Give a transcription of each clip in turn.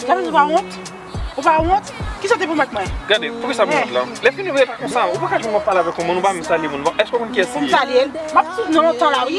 Ou pa wont? Ou pa wont? Ki sa te pou mèt mwen? Gade, pou ki sa mwen wont lan? Lè fini ou etre konsan, ou pa ka joun mwen pala vek ou moun, ou pa mwen sali moun. Eske ou konn ki es li? Pou mwen sali el? Mwen ap souf nan lontan la wi.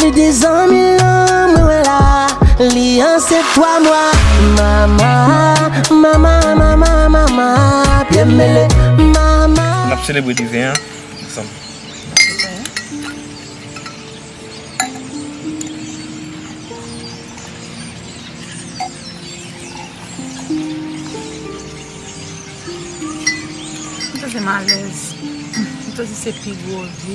Li di zanmi l lan mwen wè la Li ansent 3 mwa Mama Mama Mama Mama Pye m mele Mama N ap selebre diven an ansanm. Mwen santi m alèz. Mwen santi se pi gwo vi.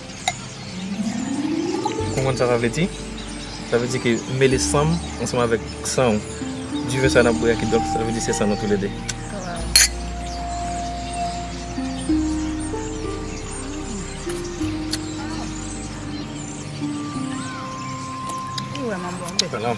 Ou konprann sa sa vle di? Sa vle di ke ou mele san m ansanm avèk san ou. Diven sa n ap bwè a kidonk sa vle di se san nou toulede. Waww.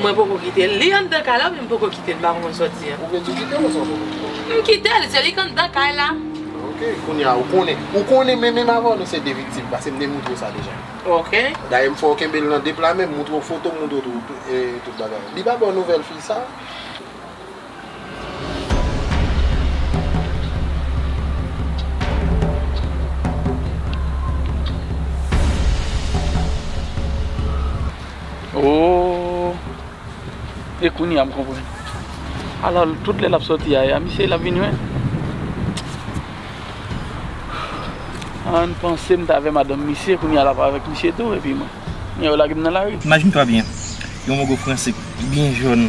Mwen poko kitel. Li anndan kay la men m poko kitel m pa konn soti an. Ou gen di w kitel ou sa w poko kitel? M kitel, se li k anndan kay la. Ok, kounye a ou konnen. Ou konnen men menm avè w nou se 2 viktim pase m te moutre w sa deja. Ok. Dayè m fè w kenbe l nan 2 pla men m, moutre w foto m, moutre w tout bagay. Li pa ba w nouvèl fi sa? Ooh e kounya m konprann ala tout lè lap sòti a ya misye lap vini menm Ann panse m t avè madanm misye kounya lap avèk misye tou epi mwen kounya yo lage m nan lari. Imagine toi bien, yon mogo franse byen jòn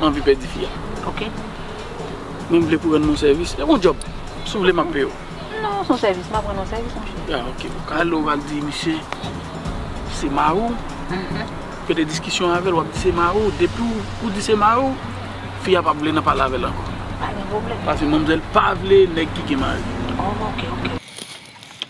M anvi pèdi fi a. Ok. Men m vle pou rann m yon sèvis. E yon djòb. Si w vle m ap peye w. Non, se yon sèvis. M ap rann w yon sèvis, monchè. A ok. Ou ka ale, ou va di misye se mari w. Fè de diskisyon avè l. W ap di se mari w. Depi ou di se mari w, fi a p ap vle nan pale avè l ankò. Pa gen pwoblèm. Paske manmzèl pa vle nèg ki gen mari. Ok, ok.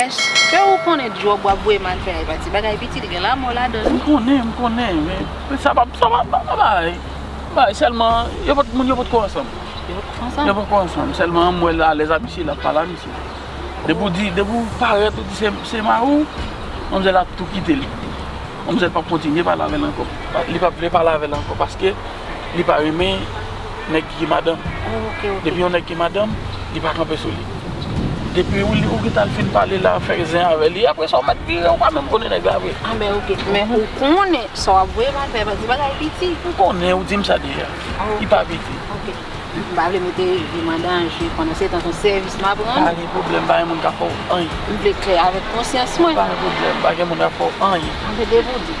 Eske ou konnen job wap voye mal fè a e pa ti bagay piti li gen lamò ladan wi. M konnen m konnen men sa pa sa pa pa bagay m bagay sèlman yo pot moun yo potko ansanm yo potko ansanm yo potko ansanm sèlman m wè l alèz a misye lap pale a misye depi w di depi w parèt ou di se mari w manmzèl ap tou kite l manmzèl pap kontinye pale avè l ankò li pap vle pale avè l ankò paske. li pa renmen nèg ki gen madanm depi yon nèg gen madanm li pa kanpe sou li depi ou gin tal fin pale la fè zen avè li aprè sa ou mèt vire ou pa menm konnen nèg la vre anben ok men ou konnen sa wap voye mal fè paske bagay piti m konnen ou dim sa deja li pa piti ok m pa vle mete vi m an danje pandan se tan son sèvis map rann ou pa gen pwoblèm pa gen moun ka fè w anyen m vle klè avèk konsyans mwen pa gen pwoblèm pa gen moun ka fè w anyen anben depi ou di.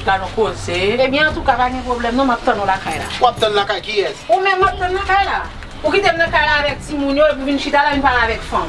Ka nou koze. Ebyen antouka pa gen pwoblèm non m ap tann ou lakay la. W ap tann lakay kiyès? Ou menm m ap tann lakay la. Ou kite m nan kay la avèk timoun yo epi w vin chita la vin pale avèk fanm.